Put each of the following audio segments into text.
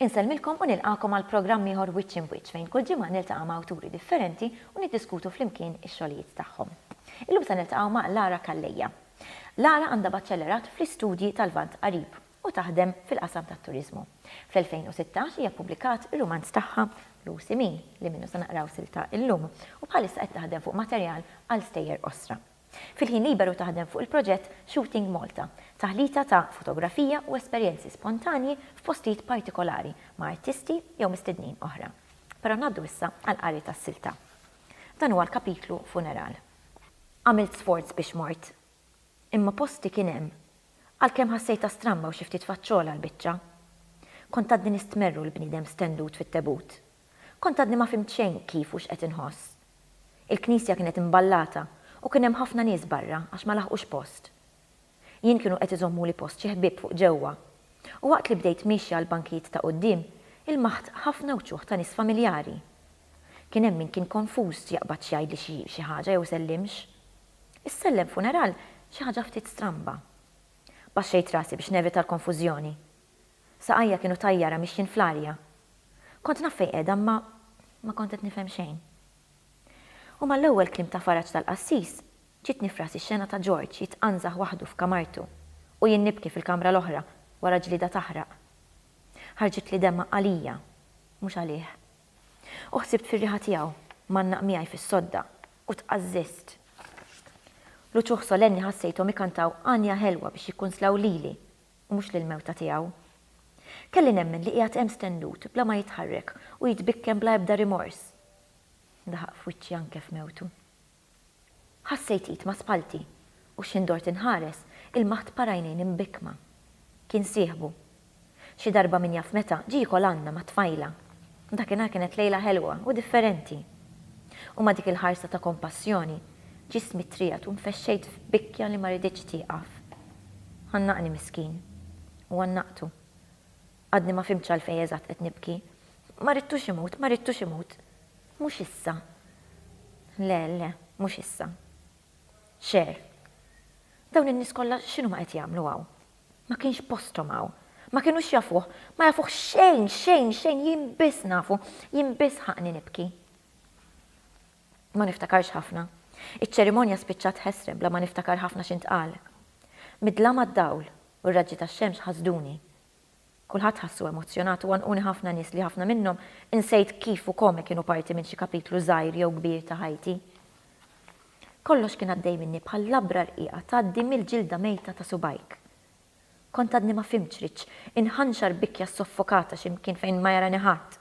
Insellmilkom u nilqagħkom għal programm ieħor Wiċċ Imb'Wiċċ fejn kull ġimgħa niltaqa' ma' awturi differenti u niddiskutu flimkien ix-xogħlijiet tagħhom. Illum se niltaqgħu ma' Lara Calleja. Lara għandha baċċellerat fl-Istudji tal-Lvant Qarib u taħdem fil-qasam tat-turiżmu. Fl-2016 hija ppubblikat ir-rumanz tagħha Lucy Min, li minnu se naqraw silta illum, u bħalissa qed taħdem fuq materjal għal stejjer qosra. Fil-ħin liberu taħdem fuq il-proġett Shooting Malta, taħlita ta' fotografija u esperjenzi spontanji f'postijiet partikolari ma' artisti jew mistednin oħra. Però ngħaddu issa għall-qari tas-silta. Dan huwa l-kapitlu Funeral. Għamilt sforz biex mort Imma posti kien hemm. Għalkemm ħassejtha stramba u xi ftit faċċola l-biċċa. Kont għadni nistmerru l-bniedem stendut fit-tebut. Kont għadni ma fhimt xejn kif u x'qed inħoss. Il-knisja kienet imballata u kien hemm ħafna nies barra għax ma laħqux post. Jien kienu qed iżommuli post xi ħbieb fuq ġewwa. U waqt li bdejt miexja għall-bankijiet ta' quddiem, ilmaħt ħafna wċuħ ta' nies familjari. Kien hemm min kien konfuż jaqbad x'jgħidli xi xi ħaġa jew isellimx. Issellem funeral xi ħaġa ftit stramba. Baxxejt rasi biex nevita l-konfużjoni. Saqajja kienu tajjara mixjin fl-arja. Kont naf fejn qiegħda imma ma kont qed nifhem xejn. U mal-ewwel kliem ta' faraġ tal-qassis, ġietni f'rasi x-xena ta' George jitqanżaħ waħdu f'kamartu u jien nibki fil-kamra l-oħra wara ġlieda taħraq. Ħarġitli demgħa għalija, mhux għalih. U ħsibt fir-riħa tiegħu, mgħannaq miegħi fis-sodda, U tqażżiżt. L-uċuh solenni ħassejthom ikantaw għanja ħelwa biex jikkunslaw lili, u mhux lill-mewta tiegħu. Kelli nemmen li qiegħed hemm stennut, bla ma jitħarrek, u jitbikken bla ebda rimors. Daħaq f'wiċċi anke f'mewtu. Ħassejt id ma' spallti, u x'ħin dort inħares, ilmaħt para għajnejn imbikkma. Kien sieħbu. Xi darba min jaf meta, ġie jikol għandna mat-tfajla. Dakinhar kienet lejla ħelwa u differenti. U ma' dik il-ħarsa ta' kompassjoni, ġismi ttriegħed u nfexxejt f'bikkja li ma riditx tieqaf. Għannaqni miskin. U għannaqtu. Għadni ma fhimtx għalfejn eżatt qed nibki. Ma ridtux imut, ma ridtux imut. Mhux issa. Le, le, mhux issa. Cher. Dawn in-nies kollha x'inhuma qed jagħmlu hawn? Ma kienx posthom hawn. Ma kienux jafuh. Ma jafuh xejn, xejn, xejn, jien biss nafu. Jien biss ħaqqni nibki. Ma niftakarx ħafna. Iċ-ċerimonja spiċċat ħesrem bla ma niftakar ħafna x'intqal. Mid-dlama d-dawl u r-raġġi tax-xemx ħasduni. Kulħadd ħassu emozzjonat u għanquni ħafna nies li ħafna minnhom insejt kif u kome kienu parti minn xi kapitlu żgħir jew kbir ta' ħajti. Kollox kien għaddej minni bħal labra rqiqa tgħaddi mill-ġilda mejta ta' subgħajk. Kont għadni ma fhimtx x'ridx, inħanxar b'ikja soffokata xi mkien fejn ma jarani ħadd,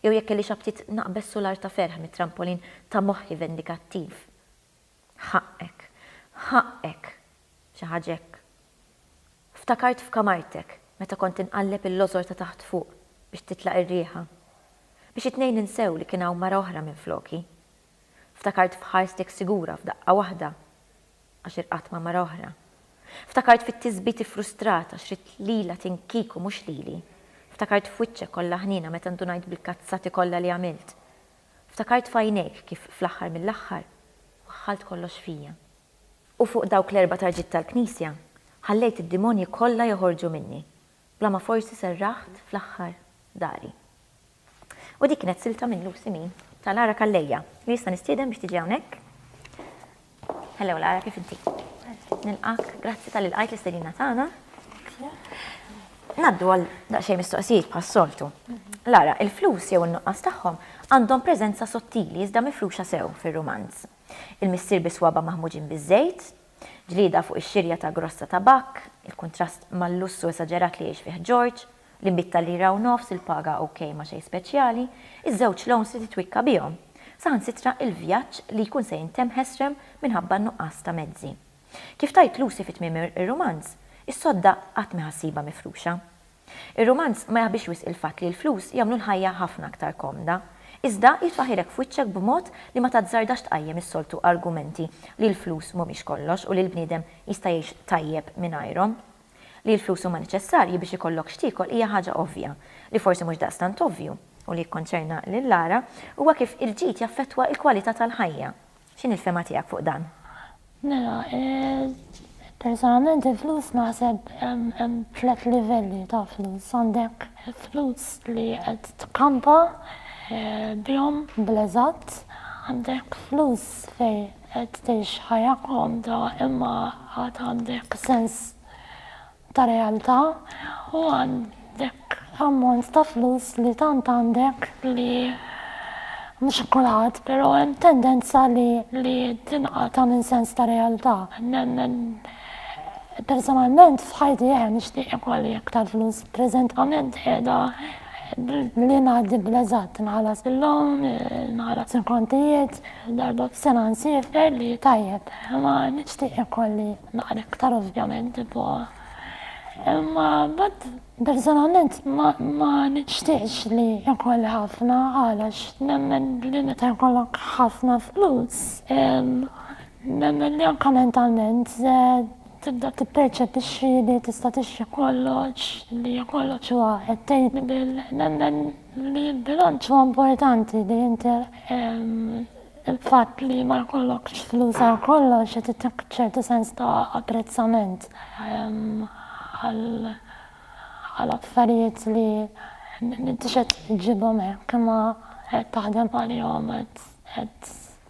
jew jekk kellix aptit naqbeż sular ta' ferħ mit-trampolin ta' moħħi vendikattiv. Ħaqqek. Ħaqqek. Xi ħaġa hekk. Ftakart f'kamartek, meta kont inqalleb il-lożor ta' taħt fuq biex titlaq ir-riħa. Biex it-tnejn insew li kien hawn mara oħra minfloki. Ftakart f'ħarstek sigura f'daqqa waħda għax irqadt ma' mara oħra. Ftakart fit-tisbit iffrustrat għax ridt lilha tinkieku mhux lili. Ftakart f'wiċċek kollha ħniena meta ndunajt bil-kazzati kollha li għamilt. Ftakart f'għajnejk kif fl-aħħar mill-aħħar waħħalt kollox fija. U fuq dawk l-erba' tarġiet tal-Knisja ħallejt id-dimonji kollha joħorġu minni, bla ma forsi serraħt fl-aħħar dari. U dik kienet silta minn Lucy Min tal-Għara Calleja. U jista' nistieden biex tiġi hawnhekk? Hello Lara, kif inti? Nilqak, grazzi tal ilqajt l-istedina tagħna. Naddu għal daqsxejn mistoqsijiet bħas soltu. Lara, il-flus jew in-nuqqas tagħhom għandhom preżenza sottili iżda mifruxa sew fir-rumanz. Il-missier bi swaba maħmuġin biż-żejt, ġlieda fuq ix-xirja ta' grossa tabakk, il-kuntrast mal-lussu esaġerat li jgħix fih George, Li bit ta' lira u nofs il-paga ok ma xejn speċjali, iż-żewġ loans li titwikka bihom. Saħansitra il-vjaġġ li jkun se jintemm ħesrem minħabba n-nuqqas ta' mezzi. Kif tgħid Lucy fi tmiem ir-rumanz, is-sodda qatt m'hi ħassiba mifruxa. Ir-rumanz ma jaħbix wisq il-fatt li l-flus jagħmlu l-ħajja ħafna aktar komda, iżda jitfaħirek f'wiċċek b'mod li ma tazzardax tqajjem is-soltu argumenti li l-flus m'humiex kollox u li l-bniedem jista' jgħix tajjeb mingħajrhom. Li l-flus huma neċessarji biex ikollok x'tiekol hija ħaġa ovvja. Li forsi mhux daqstant ovvju, u li jikkonċerna lil Lara, huwa kif il-ġid jaffettwa l-kwalità tal-ħajja. X'inhi l-fehma tiegħek fuq dan? Mela, personalment il-flus naħseb hemm tliet livelli ta' flus. Għandek il-flus li qed tkampa bihom bl-eżatt, għandek flus fejn Qed tgħix ħajja komda imma għad għandek sens ta' realtà u għandek ammont ta' flus li tant għandek li mhux kulħadd però hemm tendenza li tinqata' minn sens ta' realtà. Nemmen Personalment, f'ħajti jħen nixtieq ikolli aktar flus. Preżentament qiegħda li ngħaddi bleżat nħallas il-lom, nħallas il-kontijiet, darba f'sena nsifer li tajjeb. Ma nixtieq ikolli naqra aktar ovvjament tipo. Imma bad personalment ma nixtieqx li ikolli ħafna għalax nemmen li meta jkollok ħafna flus Nemmen li anke mentalment tibda tipperċepixxi li tista' tixtri kollox, li kollox huwa attainable. Nemmen li l-bilanċ huwa importanti li inti l-fatt li ma jkollokx flus għal kollox qed itik ċertu sens ta' apprezzament għal affarijiet li m'intix qed iġġibhom hekk imma qed taħdem għalihom, qed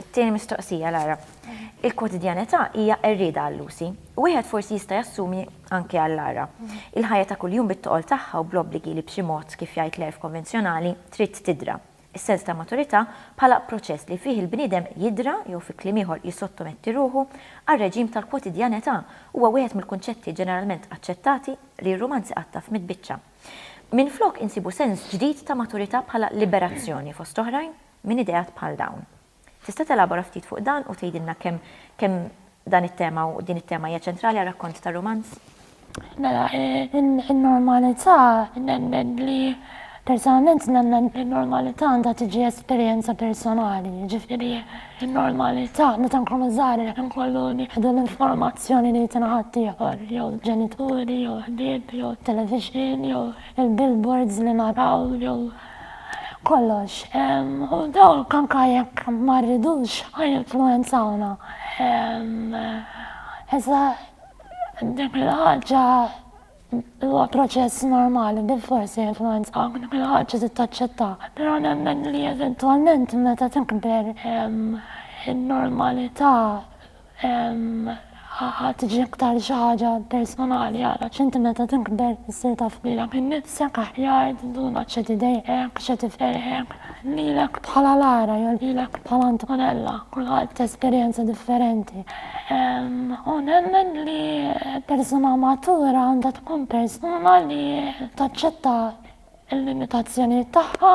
It-tieni mistoqsija, Lara. Il-kwotidjanità hija qerrieda għal Lucy. Wieħed forsi jista' jassumi anke għal Lara. Il-ħajja ta' kuljum bit-toqol tagħha u bl-obbligi li b'xi mod, kif jgħid l-għerf konvenzjonali, trid tidra. Is-sens ta' maturità bħala proċess li fih il-bniedem jidra jew fi kliem ieħor jissottometti ruħu għar-reġim tal-kwotidjanità huwa wieħed mill-kunċetti ġeneralment aċċettati li r-rumanz iqattaf mit-tbiċċa. Minflok insibu sens ġdid ta' maturità bħala liberazzjoni, fost oħrajn. minn ideat bħal dawn. Tista' telabora ftit fuq dan u tgħidilna kemm kemm dan it-tema u din it-tema hija ċentrali għar-rakkont tar-rumanz? Mela, in-normalità nemmen li personalment nemmen li n-normalità għandha tiġi esperjenza personali, ġifieri n-normalità meta nkunu żgħar inkollu nieħdu l-informazzjoni li jtina ħaddieħor, jew ġenituri, jew ħbieb, jew televixin, jew il-billboards li naraw, jew kollox, u dawn anke jekk ma rridux jinfluwenzawna. Iżda dik il-ħaġa huwa proċess normali, bilfors se jinfluwenzawk, dik il-ħaġa trid taċċettha. Però nemmen li eventwalment meta tikber in-normalità Ħa tiġi iktar xi ħaġa personali għalax inti meta tikber issir taf lilek innifsek aħjar, tinduna x'qed idejqek, x'qed iferrħek, lilek bħala Lara jew lilek bħala Antonella, kulħadd jesperjenza differenti. U nemmen li persuna matura għandha tkun persuna li taċċetta l-limitazzjonijiet tagħha,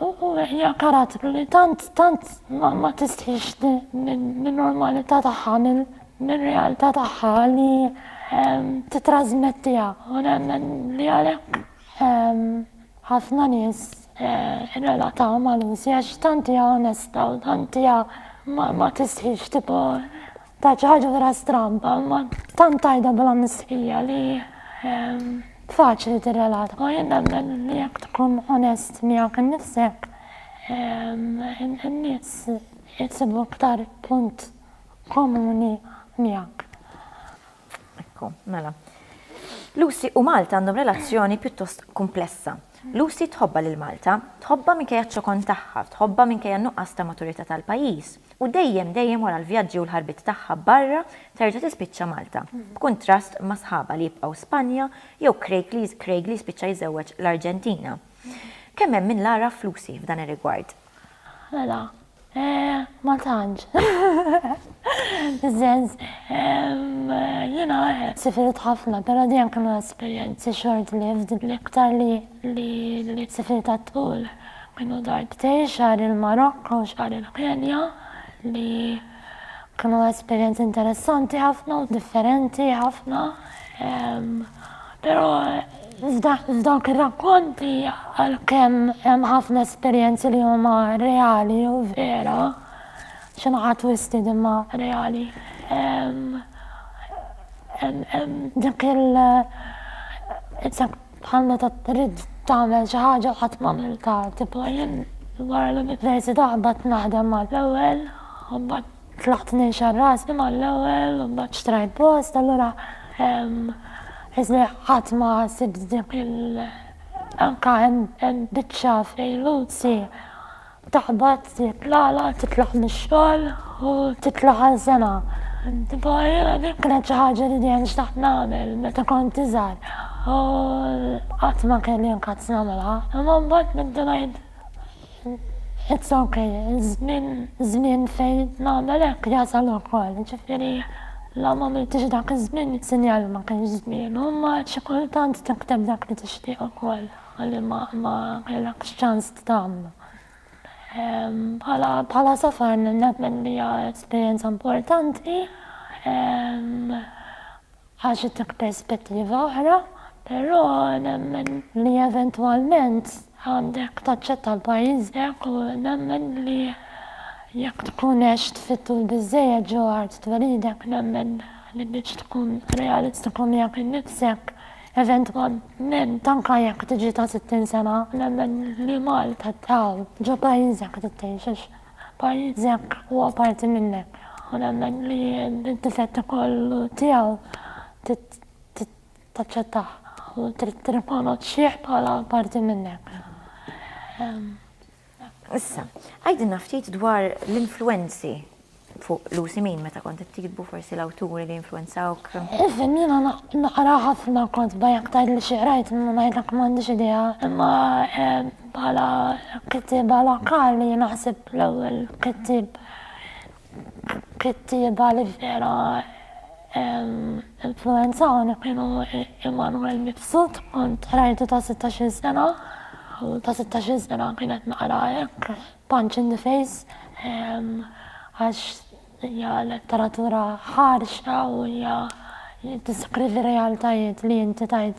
U hija karattru li tant tant ma tistħix min-normalità tagħha, mir-realtà tagħha li titrasmettiha. U nemmen li għalhekk ħafna nies irrelataw ma' Lucy għax tant hija onesta u tant hija ma tistħix tipo Ta' xi ħaġa vera stramba, ma tant tajda bla mistħija li ehm, faċli tirrelata. U jien nemmen li jekk tkun onest miegħek innifsek, ehm, in-nies jisibu iktar punt komuni miegħek. Ekku, mela. Lucy u Malta għandhom relazzjoni pjuttost kumplessa. Lucy tħobbha lil Malta, tħobbha minkejja ċ-ċokon tagħha, tħobbha minkejja n-nuqqas ta' maturità tal-pajjiż, u dejjem dejjem wara l-vjaġġi u l-ħarbiet tagħha barra terġa' tispiċċa Malta, b'kuntrast ma' sħabha li jibqgħu Spanja jew Craig li Craig li jispiċċa jżewweġ l-Arġentina. Kemm hemm min l-għaraf f'Lucy f'dan ir-rigward. Mela, eh, ma tantx. Sens, jena eh, sifirt ħafna, pero dejjem kienu esperjenzi short lived l-iktar li li sifirt għat-tul. Kienu darbtej xar il-Marokko, xar il-Kenja li Kienu esperjenzi interessanti ħafna u differenti ħafna. Però f'dawk ir-rakkonti għalkemm hemm ħafna esperjenzi li huma reali u vera, xi naħa twisted imma reali, hemm dik il-, Bħal meta trid tagħmel xi ħaġa u qatt m'għamiltha. Tipo jien wara l-università baqgħet naħdem mal-ewwel u mbagħad tlaqt ninxar rasi mal-ewwel u mbagħad xtrajt post allura isni qatt ma sibt dik il anka hemm biċċa f'Lejluzzi Taħbat, tieħed l-għala, titlaħ mix-xogħol u titlaħ għal sena. Tipo, din kienet xi ħaġa li dejjem xtaqt nagħmel meta kont iżgħar u qatt ma kelli nkazz nagħmilha. Imma mbagħad bdiet ngħid, it's ok, iż-żmien, iż-żmien fejn nagħmel hekk jasal ukoll. Ġifieri, la m'għamiltix dak iż-żmien, sinjal li ma kienx żmienu, imma xi kultant tikteb dak li tixtieq ukoll. Ħalli ma kellekx ċans tagħmlu. Bħala safar nemmen li hija esperjenza importanti għax ittik perspettiva oħra, però nemmen li eventwalment għandek taċċetta l-pajjiżek u nemmen li jekk tkun għext fit-tul biżżejjed ġewwa art twelidek nemmen li biex tkun realistiku miegħek innifsek Eventwalment, anke jekk tiġi ta' 60 sena, nemmen li Malta tbqaw ġo pajjiżek trid tgħix għax pajjiżek huwa parti minnek u nemmen li d-difetti kollu tiegħu trid taċċettah u trid tirrikonoxxih bħala parti minnek. Issa, għidilna ftit dwar l-influenzi fuq Lucy Min meta kont qed tiktbu forsi l-awturi li influenzawk. Isem jiena naqra ħafna kotba jekk tgħid li xi qrajt ma ngħidlek m'għandix idea, imma eh, bħala kittieba lokali naħseb l-ewwel kittieb Kittieba li vera influwenzawni kienu Immanuel Mifsud, kont qrajtu ta' sittax-il sena u ta' sittax-il sena kien qed naqra hekk Punch in the Face għax hija letteratura ħarxa u hija tiddeskrivi realtajiet li inti tgħid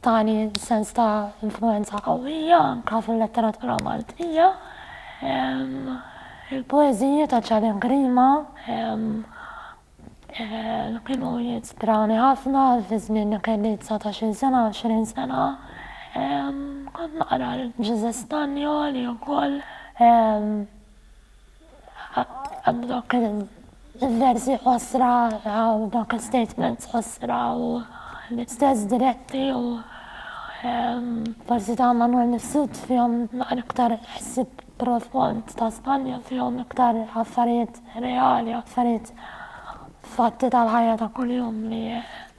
Tani sens ta' influwenza qawwija anke fil-letteratura Maltija. Il-poeżiji ta' Ċalim Grima kienu jistrani ħafna fi żmien li kelli dsatax-il sena, għoxrin sena. Kont naqra lil Ġużè Stagno li wkoll. Hemm dawk il-versi qosra u dawk il-statements qosra u l-istess diretti u forsi ta' Manwel Mifsud fihom naqra iktar ħsieb profond, ta' Spanja fihom iktar affarijiet reali, affarijiet fatti tal-ħajja ta' kuljum li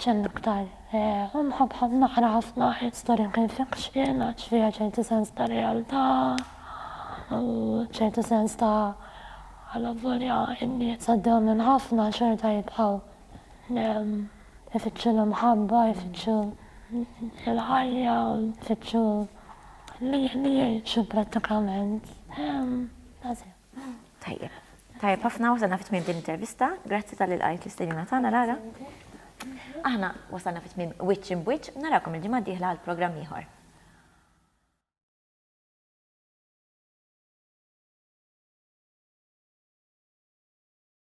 X'hemm iktar? Imħabba naqra ħafna historical fiction għax fiha ċertu sens ta' realtà u ċertu sens ta' alavolja n-nies għaddew minn ħafna xorta jibqgħu ifittxu l-imħabba, ifittxu l-ħajja u jfittxu li jgħixu prattikament. That's it. Tajjeb. Tajjeb ħafna wasalna fit tmiem din intervista. Grazzi tal ilqajt l-istedina tagħna Lara. Aħna wasalna fit tmiem wiċċ in bwiċċ narakom il-ġimgħa d-dieħla għal programm ieħor.